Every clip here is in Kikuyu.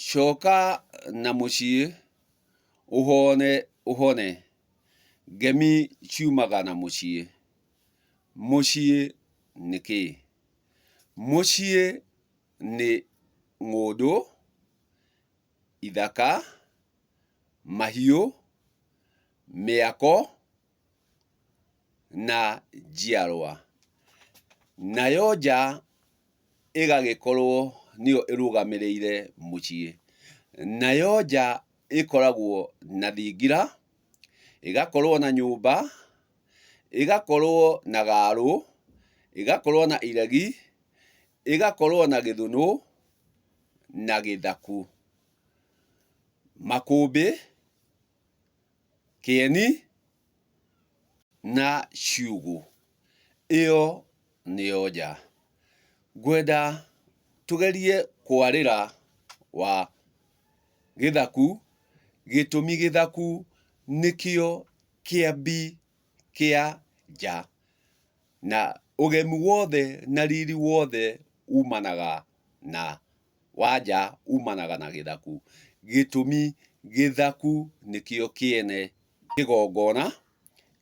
Coka na mũciĩ ũhone ũhone, ngemi ciumaga na mũciĩ. Mũciĩ nĩ kĩĩ? Mũciĩ nĩ ng'ũndũ, ithaka, mahiũ, mĩako na njiarwa, nayo nja ĩgagĩkorwo nĩyo ĩrũgamĩrĩire mũciĩ. Nayo nja ĩkoragwo na thingira, ĩgakorwo na nyũmba, ĩgakorwo na gaarũ, ĩgakorwo na iregi, ĩgakorwo na gĩthũnũ na gĩthaku. Makũmbĩ. Kĩeni na ciugũ, ĩyo nĩyo nja. Ngwenda tũgerie kwarĩra wa gĩthaku, gĩtũmi gĩthaku nĩkĩo kĩambi kĩa nja, na ũgemu wothe na riri wothe umanaga na. wa nja umanaga na gĩthaku. Gĩtũmi, Gĩthaku nĩkĩo kĩene kĩgongona.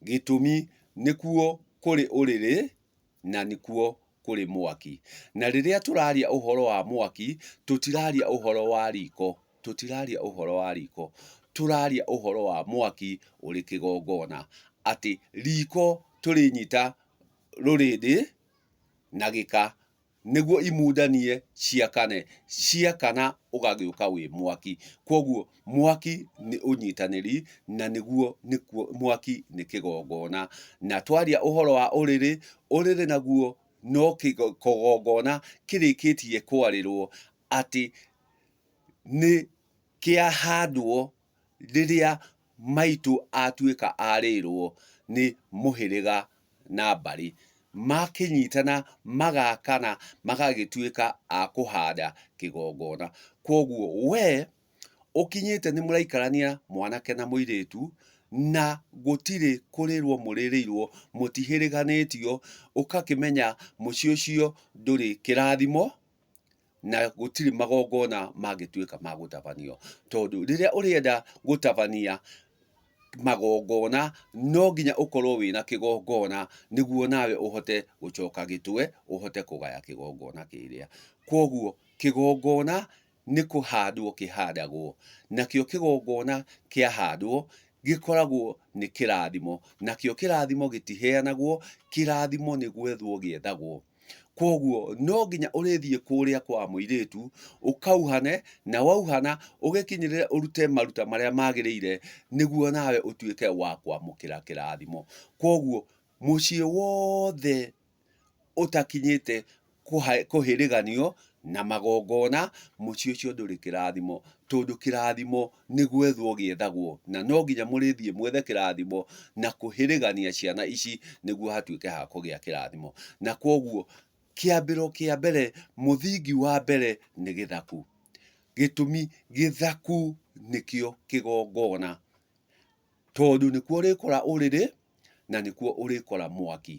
Gĩtũmi, Nĩkuo kũrĩ ũrĩrĩ na nĩkuo kũrĩ mwaki. Na rĩrĩa tũraria ũhoro wa mwaki, tũtiraria ũhoro wa riko, tũtiraria ũhoro wa riko, tũraria ũhoro wa mwaki ũrĩ kĩgongona. Atĩ riko tũrĩnyita rũrĩndĩ na gĩka nĩguo imundanie ciakane, ciakana ũgagĩũka wĩ mwaki. Kwoguo mwaki nĩ ũnyitanĩri na nĩguo nĩkuo mwaki nĩ kĩgongona. Na twaria ũhoro wa ũrĩrĩ, ũrĩrĩ naguo no kĩgongona kĩrĩkĩtie kwarĩrwo atĩ nĩ kĩahandwo rĩrĩa maitũ atuĩka arĩrwo nĩ mũhĩrĩga na mbarĩ, makĩnyitana magakana magagĩtuĩka a kũhanda kĩgongona. Koguo we ũkinyĩte nĩ mũraikarania mwanake na mũirĩtu, na gũtirĩ kũrĩrwo mũrĩrĩirwo, mũtihĩrĩganĩtio, ũgakĩmenya mũciĩ ũcio ndũrĩ kĩrathimo, na gũtirĩ magongona mangĩtuĩka ma gũtabanio. Tondũ rĩrĩa ũrĩenda gũtabania magongona, no nginya ũkorwo wĩna kĩgongona nĩguo nawe ũhote gũcoka gĩtwe, ũhote kũgaya kĩgongona kĩrĩa. Kũguo kĩgongona nĩ kũhandwo kĩhandagwo, nakĩo kĩgongona kĩahandwo, gĩkoragwo nĩ kĩrathimo. Nakĩo kĩrathimo gĩtiheanagwo, kĩrathimo nĩ gwethwo gĩethagwo. Kwoguo no nginya ũrĩthiĩ kũrĩa kwa mũirĩtu, ũkauhane, na wauhana ũgĩkinyĩrĩre ũrute maruta marĩa magĩrĩire nĩguo nawe ũtuĩke wa kwamũkĩra kĩrathimo. Kwoguo mũciĩ wothe ũtakinyĩte kũhĩrĩganio na magongona, mũciĩ ũcio ndũrĩ kĩrathimo, tondũ kĩrathimo nĩ gwethwo gĩethagwo, na no nginya mũrĩthiĩ mwethe kĩrathimo na kũhĩrĩgania ciana ici nĩguo hatuĩke ha kũgĩa kĩrathimo. Na kwoguo kĩambĩro kĩa mbere, mũthingi wa mbere nĩ gĩthaku. Gĩtũmi, gĩthaku nĩkĩo kĩgongona. Tondũ nĩkuo ũrĩkora ũrĩrĩ, na nĩkuo ũrĩkora mwaki.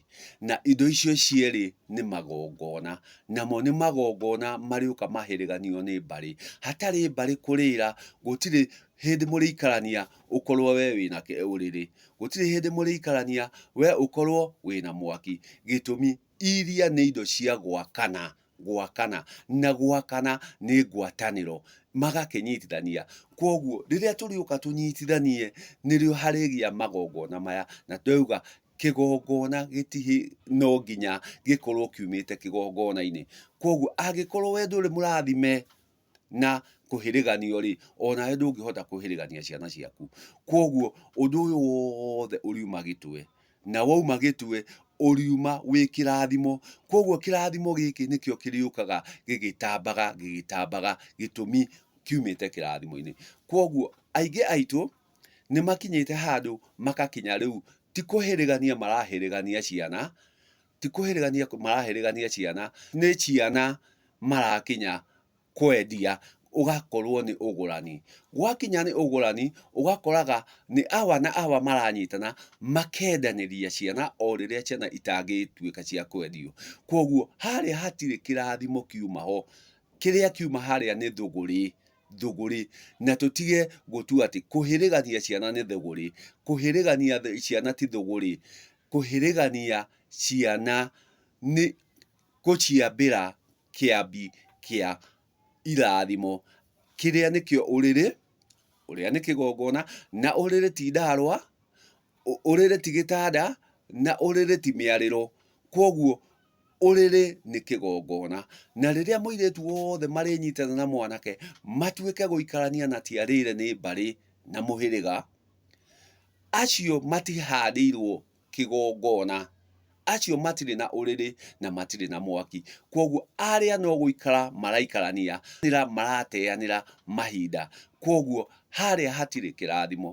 Na indo icio cierĩ nĩ magongona. Namo nĩ magongona marĩũka mahĩrĩganio nĩ mbarĩ. Hatarĩ mbarĩ kũrĩra, gũtirĩ hĩndĩ mũrĩikarania ũkorwo we wĩna ũrĩrĩ. Gũtirĩ hĩndĩ mũrĩikarania we ũkorwo wĩna mwaki. Gĩtũmi, iria nĩ indo cia gwakana, gwakana na gwakana nĩ ngwatanĩro magakĩnyitithania. Kwoguo rĩrĩa tũrĩũka tũnyitithanie nĩrĩo harĩgĩa magongona maya na twauga kĩgongona gĩti no nginya gĩkorwo kiumĩte kĩgongona-inĩ. Kwoguo angĩkorwo we ndũrĩ mũrathime na kũhĩrĩganio-rĩ, o nawe ndũngĩhota kũhĩrĩgania ciana ciaku. Kwoguo ũndũ ũyũ wothe ũriuma gĩtwe, na wauma gĩtwe, ũriuma wĩ kĩrathimo. Kwoguo kĩrathimo gĩkĩ nĩkĩo kĩrĩũkaga gĩgĩtambaga gĩgĩtambaga, gĩtũmi kiumĩte kĩrathimo-inĩ. Kwoguo aingĩ aitũ nĩ makinyĩte handũ magakinya rĩu ti kũhĩrĩgania marahĩrĩgania ciana, ti kũhĩrĩgania marahĩrĩgania ciana, nĩ ciana marakinya kwendia, ũgakorwo nĩ ũgũrani. Gwakinya nĩ ũgũrani, ũgakoraga nĩ awa na awa maranyitana makendanĩria ciana o rĩrĩa ciana itangĩtuĩka cia kwendio. Kwoguo harĩa hatirĩ kĩrathimo kiuma ho, kĩrĩa kiuma harĩa nĩ thũgũrĩ, thũgũrĩ. Na tũtige gũtua atĩ kũhĩrĩgania ciana nĩ thũgũrĩ, kũhĩrĩgania ciana ti thũgũrĩ. kũhĩrĩgania ciana nĩ gũciambĩra kĩambi kĩa irathimo, kĩrĩa nĩkĩo ũrĩrĩ, ũrĩa nĩ kĩgongona, na ũrĩrĩ ti ndaarwa, ũrĩrĩ ti gĩtanda, na ũrĩrĩ ti mĩarĩro. Kwoguo ũrĩrĩ nĩ kĩgongona. Na rĩrĩa mũirĩtu wothe marĩnyitana na mwanake, matuĩke gũikarania na ti arĩre nĩ mbarĩ na mũhĩrĩga, Acio matihaandĩirwo kĩgongona, acio matirĩ na ũrĩrĩ na matirĩ na mwaki, kwoguo arĩa no gũikara maraikarania, marateanĩra mahinda, kwoguo harĩa hatirĩ kĩrathimo.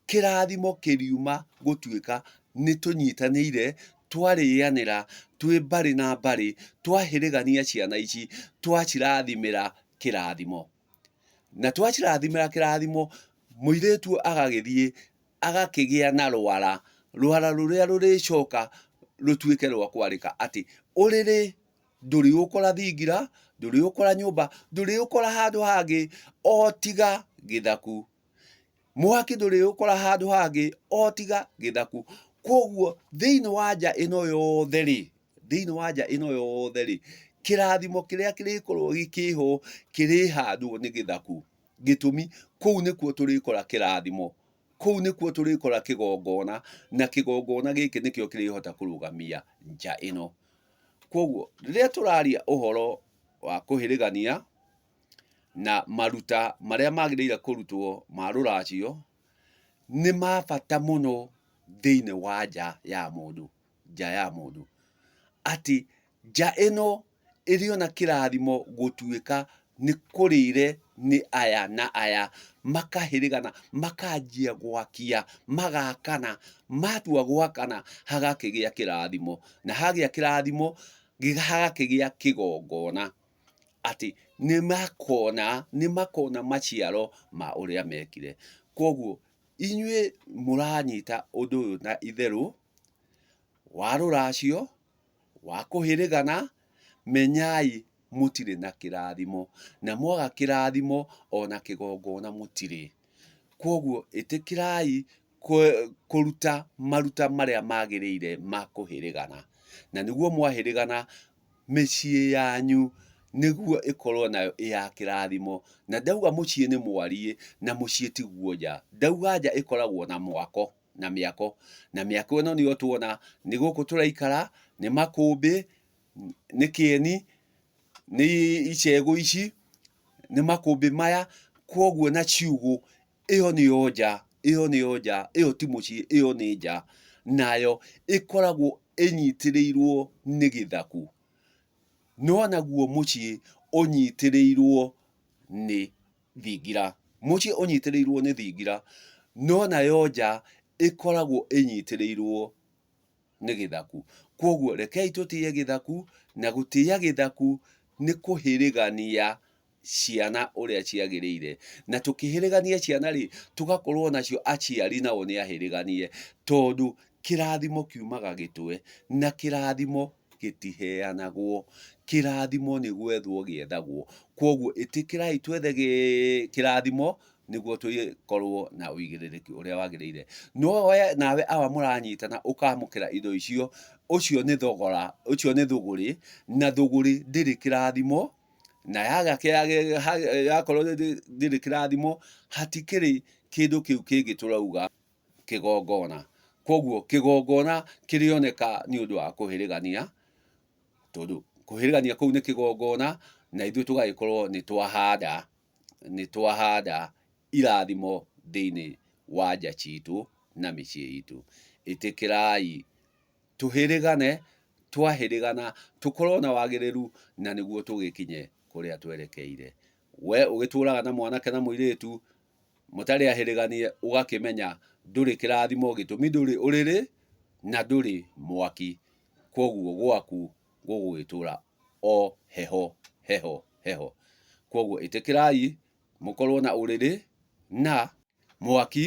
Kĩrathimo kĩriuma gũtuĩka nĩ tũnyitanĩire, twarĩanĩra twĩ mbarĩ na mbarĩ, twahĩrĩgania ciana ici, twacirathimĩra kĩrathimo. na twacirathimĩra kĩrathimo, mũirĩtu ũyũ agagĩthiĩ agakĩgĩa na rwara, rwara rũrĩa rũrĩcoka rũtuĩke rwa kwarĩka atĩ, ũrĩrĩ ndũrĩũkora thingira, ndũrĩũkora nyũmba, ndũrĩũkora handũ hangĩ o tiga gĩthaku. Mwaki ndũrĩũkora handũ hangĩ o tiga gĩthaku. Kũguo thĩiniĩ wa nja ĩno yothe rĩ, thĩinĩ wa nja ĩno yothe rĩ kĩrathimo kĩrĩa kĩrĩkorwo gĩkĩho kĩrĩhandwo nĩ gĩthaku gĩtũmi kũu nĩkuo tũrĩkora kĩrathimo kũu nĩkuo tũrĩkora kĩgongona na kĩgongona gĩkĩ nĩkĩo kĩrĩhota kũrũgamia nja ĩno kwoguo rĩrĩa tũraria ũhoro wa kũhĩrĩgania na maruta marĩa magĩrĩire kũrutwo ma rũracio nĩ ma bata mũno thĩinĩ wa nja ya mũndũ nja ya mũndũ, atĩ nja ĩno ĩrĩ ona kĩrathimo gũtuĩka nĩ kũrĩre nĩ aya na aya, makahĩrĩgana, makanjia gwakia, magakana, matua gwakana hagakĩgĩa kĩrathimo, na hagĩa kĩrathimo hagakĩgĩa kĩgongona, atĩ nĩ makona, nĩ makona maciaro ma ũrĩa mekire. Koguo inyuĩ mũranyita ũndũ ũyũ na itherũ. wa rũracio, wa kũhĩrĩgana, menyai mũtirĩ na kĩrathimo, na mwaga kĩrathimo o na kĩgongona mũtirĩ. Kwoguo ĩtĩkĩrai kũruta maruta marĩa magĩrĩire ma kũhĩrĩgana, na nĩguo mwahĩrĩgana, mĩciĩ yanyu nĩguo ĩkorwo nayo ĩ ya kĩrathimo. Na ndauga mũciĩ nĩ mwariĩ, na mũciĩ tiguo nja. Ndauga nja ĩkoragwo na mwako. na mĩako. Na mĩako ĩno nĩyo tuona, nĩ gũkũ tũraikara, nĩ makũmbĩ, nĩ kĩeni, nĩ icegũ ici, nĩ makũmbĩ maya, kwoguo na ciugũ, ĩyo nĩyo nja, ĩyo nĩyo nja, ĩyo ti mũciĩ, ĩyo nĩ nja. Nayo ĩkoragwo ĩnyitĩrĩirwo nĩ gĩthaku. No naguo mũciĩ ũnyitĩrĩirwo nĩ thingira. Mũciĩ ũnyitĩrĩirwo nĩ thingira, no nayo nja ĩkoragwo ĩnyitĩrĩirwo nĩ gĩthaku. Kwoguo rekei tũtĩe gĩthaku, na gũtĩa gĩthaku nĩ kũhĩrĩgania ciana ũrĩa ciagĩrĩire. Na tũkĩhĩrĩgania ciana rĩ, tũgakorwo nacio aciari nao nĩ ahĩrĩganie, tondũ kĩrathimo kiumaga gĩtwe, na kĩrathimo gĩtiheanagwo. Kĩrathimo nĩ gwethwo gĩethagwo. Kwoguo ĩtĩkĩrai twethe kĩrathimo nĩguo tũkorwo na ũigĩrĩrĩki ũrĩa wagĩrĩire. No we nawe awa mũranyitana ũkamũkĩra indo icio, ũcio nĩ thogora, ũcio nĩ thũgũrĩ, na thũgũrĩ ndĩrĩ kĩrathimo, na yaga yakorwo ndĩrĩ kĩrathimo hatikĩrĩ kĩndũ kĩu kĩngĩ tũrauga. kĩgongona. Koguo kĩgongona kĩrĩoneka nĩ ũndũ wa kũhĩrĩgania, tondũ kũhĩrĩgania kũu nĩ kĩgongona, na ithuĩ tũgagĩkorwo nĩ twahanda, nĩ twahanda irathimo thĩiniĩ wa nja ciitũ na mĩciĩ iitũ. Ĩtĩkĩrai tũhĩrĩgane, twahĩrĩgana tũkorwo na wagĩrĩru na nĩguo tũgĩkinye kũrĩa twerekeire. Wee ũgĩtũũraga na mwanake na mũirĩtu... mũtarĩ ahĩrĩganie ũgakĩmenya ndũrĩ kĩrathimo gĩtũmi ndũrĩ ũrĩrĩ na ndũrĩ mwaki kwoguo gwaku gũgũgĩtũra o heho heho heho. Kwoguo ĩtĩkĩrai mũkorwo na ũrĩrĩ na mwaki.